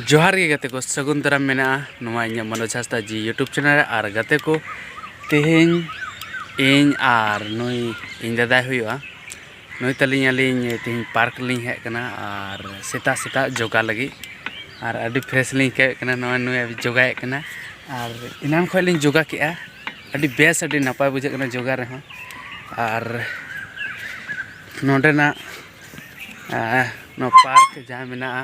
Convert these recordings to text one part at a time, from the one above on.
ᱡᱚᱦᱟᱨ ᱜᱮ ᱜᱟᱛᱮ ᱠᱚ ᱥᱟᱹᱜᱩᱱ ᱫᱟᱨᱟᱢ ᱢᱮᱱᱟᱜᱼᱟ ᱱᱚᱣᱟ ᱤᱧᱟᱹᱜ ᱢᱚᱱᱳᱡᱽ ᱦᱟᱸᱥᱫᱟ ᱡᱤ ᱤᱭᱩᱴᱩᱵᱽ ᱪᱮᱱᱮᱞ ᱨᱮ ᱟᱨ ᱜᱟᱛᱮ ᱠᱚ ᱛᱮᱦᱮᱧ ᱤᱧ ᱟᱨ ᱱᱩᱭ ᱤᱧ ᱫᱟᱫᱟᱭ ᱦᱩᱭᱩᱜᱼᱟ ᱱᱩᱭ ᱛᱟᱹᱞᱤᱧ ᱟᱹᱞᱤᱧ ᱛᱮᱦᱮᱧ ᱯᱟᱨᱠ ᱞᱤᱧ ᱦᱮᱡ ᱟᱠᱟᱱᱟ ᱟᱨ ᱥᱮᱛᱟᱜ ᱥᱮᱛᱟᱜ ᱡᱳᱜᱟ ᱞᱟᱹᱜᱤᱫ ᱟᱨ ᱟᱹᱰᱤ ᱯᱷᱨᱮᱥ ᱞᱤᱧ ᱟᱹᱭᱠᱟᱹᱣᱮᱫ ᱠᱟᱱᱟ ᱱᱚᱜᱼᱚᱭ ᱱᱩᱭ ᱡᱳᱜᱟᱭᱮᱫ ᱠᱟᱱᱟ ᱟᱨ ᱮᱱᱟᱱ ᱠᱷᱚᱱ ᱞᱤᱧ ᱡᱳᱜᱟ ᱠᱮᱜᱼᱟ ᱟᱹᱰᱤ ᱵᱮᱥ ᱟᱹᱰᱤ ᱱᱟᱯᱟᱭ ᱵᱩᱡᱷᱟᱹᱜ ᱠᱟᱱᱟ ᱡᱳᱜᱟ ᱨᱮᱦᱚᱸ ᱟᱨ ᱱᱚᱰᱮᱱᱟᱜ ᱱᱚᱣᱟ ᱯᱟᱨᱠ ᱡᱟᱦᱟᱸ ᱢᱮᱱᱟᱜᱼᱟ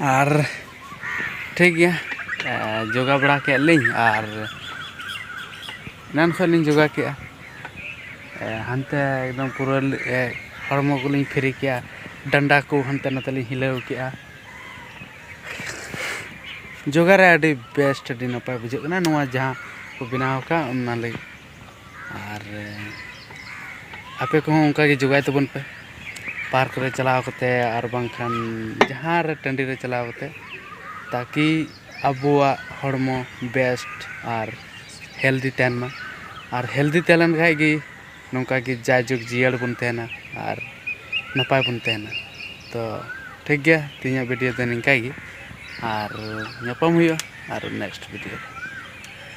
ᱟᱨ ᱴᱷᱤᱠ ᱜᱮᱭᱟ ᱡᱳᱜᱟ ᱵᱟᱲᱟ ᱠᱮᱜ ᱞᱤᱧ ᱟᱨ ᱮᱱᱟᱱ ᱠᱷᱚᱱ ᱞᱤᱧ ᱡᱳᱜᱟ ᱠᱮᱜᱼᱟ ᱦᱟᱱᱛᱮ ᱮᱠᱫᱚᱢ ᱯᱩᱨᱟᱹ ᱦᱚᱲᱢᱚ ᱠᱚᱞᱤᱧ ᱯᱷᱨᱤ ᱠᱮᱜᱼᱟ ᱰᱟᱱᱰᱟ ᱠᱚ ᱦᱟᱱᱛᱮ ᱱᱟᱛᱮ ᱞᱤᱧ ᱦᱤᱞᱟᱹᱣ ᱠᱮᱜᱼᱟ ᱡᱳᱜᱟ ᱨᱮ ᱟᱹᱰᱤ ᱵᱮᱥᱴ ᱟᱹᱰᱤ ᱱᱟᱯᱟᱭ ᱵᱩᱡᱷᱟᱹᱜ ᱠᱟᱱᱟ ᱱᱚᱣᱟ ᱡᱟᱦᱟᱸ ᱠᱚ ᱵᱮᱱᱟᱣ ᱠᱟᱜ ᱚᱱᱟ ᱞᱟᱹᱜᱤᱫ ᱟᱨ ᱟᱯᱮ ᱠᱚᱦᱚᱸ ᱚᱱᱠᱟ ᱜᱮ ᱡᱳᱜᱟᱭ ᱛᱟᱵᱚᱱ ᱯᱮ ᱯᱟᱨᱠ ᱨᱮ ᱪᱟᱞᱟᱣ ᱠᱟᱛᱮᱫ ᱟᱨ ᱵᱟᱝᱠᱷᱟᱱ ᱡᱟᱦᱟᱸ ᱨᱮ ᱴᱟᱺᱰᱤ ᱨᱮ ᱪᱟᱞᱟᱣ ᱠᱟᱛᱮᱫ ᱛᱟᱠᱤ ᱟᱵᱚᱣᱟᱜ ᱦᱚᱲᱢᱚ ᱵᱮᱥᱴ ᱟᱨ ᱦᱮᱞᱫᱤ ᱛᱟᱦᱮᱱ ᱢᱟ ᱟᱨ ᱦᱮᱞᱫᱤ ᱛᱟᱦᱮᱸ ᱞᱮᱱ ᱠᱷᱟᱱ ᱜᱮ ᱱᱚᱝᱠᱟ ᱜᱮ ᱡᱟᱭ ᱡᱩᱜᱽ ᱡᱤᱭᱟᱹᱲ ᱵᱚᱱ ᱛᱟᱦᱮᱱᱟ ᱟᱨ ᱱᱟᱯᱟᱭ ᱵᱚᱱ ᱛᱟᱦᱮᱱᱟ ᱛᱚ ᱴᱷᱤᱠ ᱜᱮᱭᱟ ᱛᱮᱦᱮᱧᱟᱜ ᱵᱷᱤᱰᱤᱭᱳ ᱫᱚ ᱱᱤᱝᱠᱟᱹ ᱜᱮ ᱟᱨ ᱧᱟᱯᱟᱢ ᱦᱩᱭᱩᱜᱼᱟ ᱟᱨ ᱱᱮᱠᱥᱴ ᱵᱷᱤᱰᱤᱭᱳ ᱨᱮ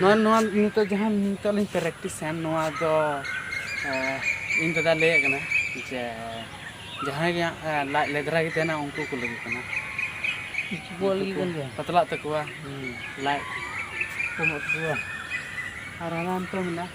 ᱱᱚᱣᱟ ᱱᱚᱣᱟ ᱱᱤᱛᱚᱜ ᱡᱟᱦᱟᱸ ᱱᱤᱛᱚᱜ ᱞᱤᱧ ᱯᱨᱮᱠᱴᱤᱥᱟ ᱱᱚᱣᱟ ᱫᱚ ᱤᱧ ᱫᱟᱫᱟ ᱞᱟᱹᱭᱮᱫ ᱠᱟᱱᱟ ᱡᱮ ᱡᱟᱦᱟᱸᱭ ᱜᱮ ᱞᱟᱡ ᱞᱮᱫᱽᱨᱟ ᱜᱮ ᱛᱟᱦᱮᱱᱟ ᱩᱱᱠᱩ ᱠᱚ ᱞᱟᱹᱜᱤᱫ ᱠᱟᱱᱟ ᱵᱚᱞ ᱜᱮ ᱠᱟᱱ ᱜᱮᱭᱟ ᱯᱟᱛᱞᱟᱜ ᱛᱟᱠᱚᱣᱟ ᱞᱟᱡ ᱠᱚᱢᱚᱜ ᱛᱟᱠᱚᱣᱟ ᱟᱨ ᱦᱟᱱᱟ ᱱᱤᱛᱚᱜ ᱢᱮᱱᱟᱜᱼᱟ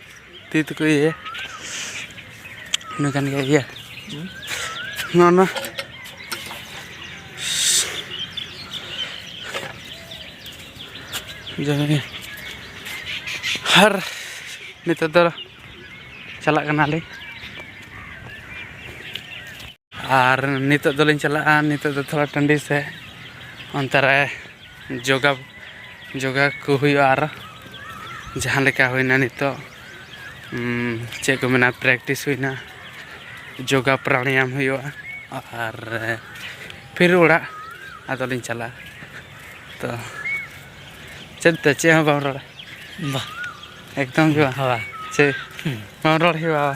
ᱛᱤ ᱛᱮᱠᱚ ᱤᱭᱟᱹᱭᱟ ᱤᱱᱟᱹ ᱠᱟᱱ ᱜᱮᱭᱟ ᱤᱭᱟᱹ ᱱᱚᱜᱼᱚ ᱱᱟ ᱡᱟᱭᱜᱟ ᱟᱨ ᱱᱤᱛᱚᱜ ᱫᱚ ᱪᱟᱞᱟᱜ ᱠᱟᱱᱟᱞᱤᱧ ᱟᱨ ᱱᱤᱛᱚᱜ ᱫᱚᱞᱤᱧ ᱪᱟᱞᱟᱜᱼᱟ ᱱᱤᱛᱚᱜ ᱫᱚ ᱛᱷᱚᱲᱟ ᱴᱟᱺᱰᱤ ᱥᱮᱫ ᱚᱱᱛᱮ ᱨᱮ ᱡᱳᱜᱟ ᱡᱳᱜᱟ ᱠᱚ ᱦᱩᱭᱩᱜᱼᱟ ᱟᱨ ᱡᱟᱦᱟᱸ ᱞᱮᱠᱟ ᱦᱩᱭᱱᱟ ᱱᱤᱛᱚᱜ ᱪᱮᱫ ᱠᱚ ᱢᱮᱱᱟ ᱯᱨᱮᱠᱴᱤᱥ ᱦᱩᱭᱱᱟ ᱡᱳᱜᱟ ᱯᱨᱟᱱᱟᱭᱟᱢ ᱦᱩᱭᱩᱜᱼᱟ ᱟᱨ ᱯᱷᱤᱨ ᱚᱲᱟᱜ ᱟᱫᱚᱞᱤᱧ ᱪᱟᱞᱟᱜᱼᱟ ᱛᱚ ᱪᱮᱫ ᱛᱮ ᱪᱮᱫ ᱦᱚᱸ ᱵᱟᱢ ᱨᱚᱲᱟ ᱵᱟ ᱮᱠᱫᱚᱢ ᱜᱮ ᱵᱟᱝ ᱦᱳᱭ ᱪᱮᱫ ᱵᱟᱢ ᱨᱚᱲ ᱦᱮᱣᱟᱣᱟ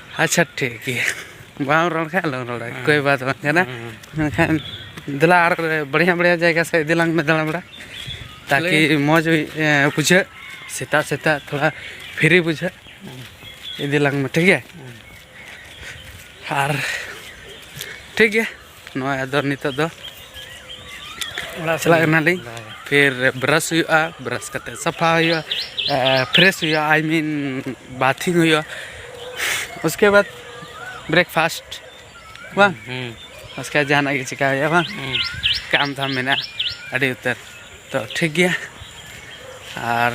ᱟᱪᱪᱷᱟ ᱴᱷᱤᱠ ᱜᱮᱭᱟ ᱵᱟᱢ ᱨᱚᱲ ᱠᱷᱟᱱ ᱟᱞᱚᱢ ᱨᱚᱲᱟ ᱠᱳᱭ ᱵᱟᱛ ᱵᱟᱝ ᱠᱟᱱᱟ ᱢᱮᱱᱠᱷᱟᱱ ᱫᱮᱞᱟ ᱟᱨ ᱵᱟᱲᱭᱟ ᱵᱟᱲᱭᱟ ᱡᱟᱭᱜᱟ ᱥᱮᱫ ᱤᱫᱤ ᱞᱟᱝ ᱢᱮ ᱫᱟᱬᱟ ᱵᱟᱲᱟ ᱛᱟᱠᱤ ᱢᱚᱡᱽ ᱦᱩᱭ ᱵᱩᱡᱷᱟᱹᱜ ᱥᱮᱛᱟᱜ ᱥᱮᱛᱟᱜ ᱛᱷᱚᱲᱟ ᱯᱷᱤᱨᱤ ᱵᱩᱡᱷᱟᱹᱜ ᱤᱫᱤ ᱞᱟᱝ ᱢᱮ ᱴᱷᱤᱠ ᱜᱮᱭᱟ ᱟᱨ ᱴᱷᱤᱠ ᱜᱮᱭᱟ ᱱᱚᱜᱼᱚᱭ ᱟᱫᱚ ᱱᱤᱛᱚᱜ ᱫᱚ ᱚᱲᱟᱜ ᱪᱟᱞᱟᱜ ᱠᱟᱱᱟᱞᱤᱧ ᱯᱷᱤᱨ ᱵᱨᱟᱥ ᱦᱩᱭᱩᱜᱼᱟ ᱵᱨᱟᱥ ᱠᱟᱛᱮ ᱥᱟᱯᱷᱟ ᱦᱩᱭᱩᱜᱼᱟ ᱯᱷᱨᱮᱥ ᱦᱩᱭᱩᱜᱼᱟ ᱟᱭ ᱢᱤᱱ ᱵᱟᱛᱷᱤᱝ ᱦᱩᱭᱩᱜᱼᱟ ᱩᱥᱠᱮ ᱵᱟᱫ ᱵᱨᱮᱠᱯᱷᱟᱥᱴ ᱵᱟᱝ ᱩᱥᱠᱮ ᱡᱟᱦᱟᱱᱟᱜ ᱜᱮ ᱪᱤᱠᱟ ᱦᱩᱭᱩᱜᱼᱟ ᱵᱟᱝ ᱠᱟᱢ ᱫᱷᱟᱢ ᱢᱮᱱᱟᱜᱼᱟ ᱟᱹᱰᱤ ᱩᱛᱟᱹᱨ ᱛᱚ ᱴᱷᱤᱠ ᱜᱮᱭᱟ ᱟᱨ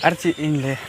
ᱟᱨ ᱪᱮᱫ ᱤᱧ ᱞᱟᱹᱭᱟ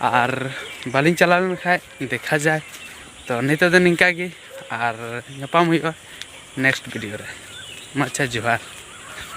ᱟᱨ ᱵᱟᱹᱞᱤᱧ ᱪᱟᱞᱟᱣ ᱞᱮᱱ ᱠᱷᱟᱡ ᱫᱮᱠᱷᱟ ᱡᱟᱭ ᱛᱚ ᱱᱤᱛᱚᱜ ᱫᱚ ᱱᱤᱝᱠᱟ ᱜᱮ ᱟᱨ ᱧᱟᱯᱟᱢ ᱦᱩᱭᱩᱜᱼᱟ ᱱᱮᱠᱥᱴ ᱵᱷᱤᱰᱤᱭᱳ ᱨᱮ ᱢᱟ ᱟᱪᱪᱷᱟ ᱡᱚᱦᱟᱨ